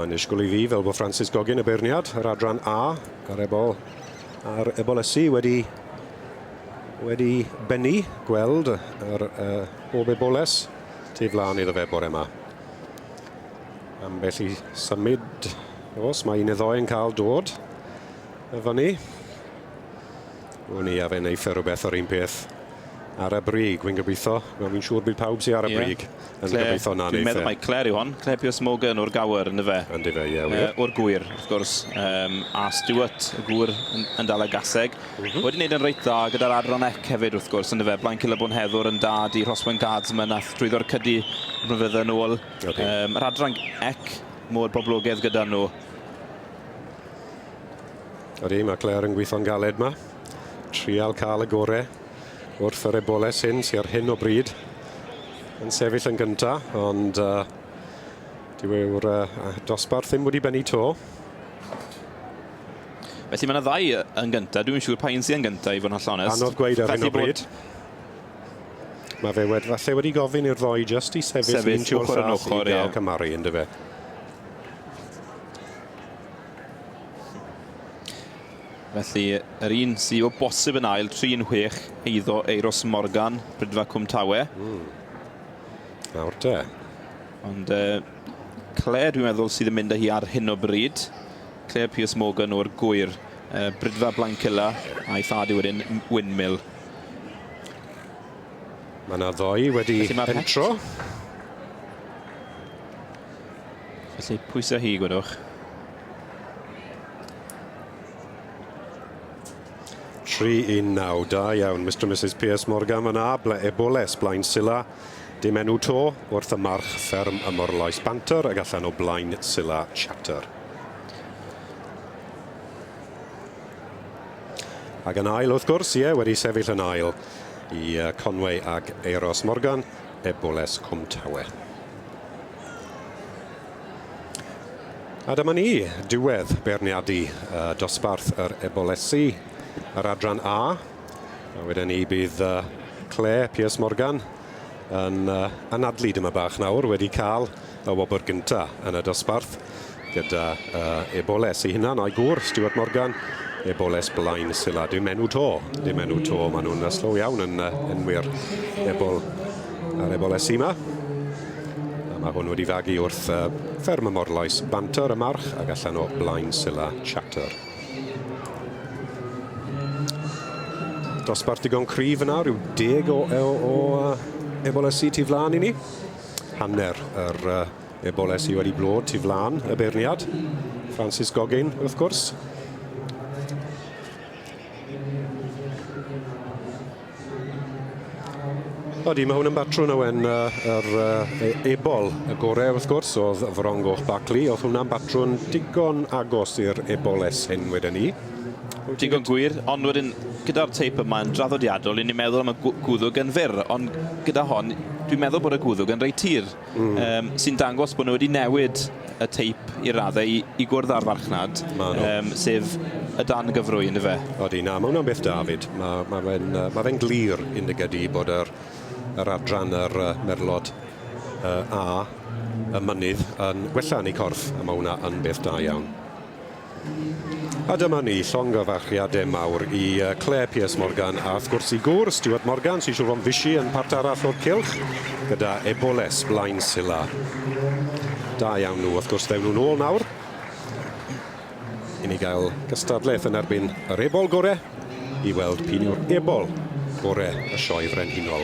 Mae'n ysgol i fi fel bod Francis Gogin y beirniad, yr adran A, ar ebol, ar ebol ysu wedi, wedi bennu gweld yr uh, bob eboles tu flaen iddo fe bore yma. Ambell i symud, os mae un neu ddoe yn cael dod y fyny. Wn i a fe wneud e rhywbeth o'r un peth ar y brig, wy'n gobeithio. Wel, fi'n siŵr bydd pawb sy'n ar y brig yn gobeithio na wneud e. Dwi'n meddwl mae Claire yw hon, Claire Pierce Morgan o'r Gower, ynddo fe? Ynddo fe, ie, wir. O'r Gŵyr, wrth gwrs, a Stuart, y Gŵyr, yn dal y gaseg. Mhm. Wedi wneud yn reit dda gyda'r Adran Ec hefyd, wrth gwrs, ynddo fe? Blaen Cilyb Bonheddwr yn dad i Rhoswen Guardsman, ath drwyddo'r cydi blynyddoedd yn ôl. Okay. Um, yr adran ec mor boblogaidd gyda nhw. Ydy, mae Claire yn gweithio'n galed yma. Trial cael y gorau wrth yr eboles hyn sy'n ar hyn o bryd yn sefyll yn gyntaf, ond uh, dyw yw'r uh, dosbarth ddim wedi bennu to. Felly mae yna ddau yn gyntaf, dwi'n siŵr pa un sy'n gyntaf i fod yn hollonest. Anodd gweud ar hyn o bryd. Mae fe wed, falle wedi gofyn i'r ddoi just i sefyll, sefyll un ochr yn ochr i gael ie. cymharu, ynddo fe? Felly, yr un sy'n o bosib yn ail, 3-6, eiddo Eiros Morgan, Brydfa Cwmtawe. Mm. Nawr te. Ond uh, Claire, dwi'n meddwl, sydd yn mynd â hi ar hyn o bryd. Claire Pierce Morgan o'r gwyr. Uh, Brydfa Blancilla a'i thad i wedyn Windmill. Mae yna ddoi wedi pentro. Felly pwysau hi, gwedwch. Tri i naw, da iawn, Mr and Mrs Pierce Morgan fan a, ble eboles, blaen sila, dim enw to, wrth y march fferm y morloes banter ag allan o blaen sila chatter. Ac yn ail, wrth gwrs, ie, wedi sefyll yn ail i Conway ac Euros Morgan, Eboules Cwm Tawe. A dyma ni, diwedd beirniadu uh, dosbarth yr Eboulesi, yr adran A. A wedyn ni bydd uh, Claire Pierce Morgan yn uh, anadlu dyma bach nawr wedi cael Y wobr gyntaf yn y dosbarth gyda uh, Eboles ei hunan a'i gŵr, Stuart Morgan. Eboles blaen sila. Dim enw to. Dim enw to. Maen nhw'n uh, slow iawn yn uh, enwi'r ebol a'r Eboles yma. A mae hwn wedi fagu wrth uh, fferm y morlais banter y march ac allan o blaen sila chatter. Dosbarth digon cryf yna, rhyw deg o, o, o uh, Eboles i tu flaen i ni. Hanner yr uh, ebolau sydd wedi blod tu flan y beirniad. Francis Goggin, wrth gwrs. Odi, mae hwn yn batrwn ywen yr e, ebol y gorau wrth gwrs oedd Frongoch Bacli. Oedd hwnna'n batrwn digon agos i'r eboles hyn wedyn ni. Digon gwir, ond wedyn gyda'r teip yma yn draddodiadol, ni'n meddwl am y gwddwg yn fyr, ond gyda hon, dwi'n meddwl bod y gwddwg yn reit tir, mm. um, sy'n dangos bod nhw wedi newid y teip i raddau i, i gwrdd â'r farchnad, um, sef y dan gyfrwy, ynddo fe? Odi, na, mae hwnna'n beth David. Mae ma fe'n ma fe glir yn dy gydi bod yr, yr adran yr uh, merlod uh, a y mynydd yn gwella yn ei corff, a mae hwnna yn beth da iawn. A dyma ni, llongyfarchiade mawr i yy Clare Pierce Morgan a wrth gwrs i gŵr Stuart Morgan sy'n siŵr fo'n fishi yn part arall o'r cylch gyda Eboules blaen Sylla. Da iawn nhw wrth gwrs ddewn nhw'n ôl nawr i ni gael gystadleth yn erbyn yr ebol gore i weld p'un yw'r ebol gore y Sioe Frenhinol.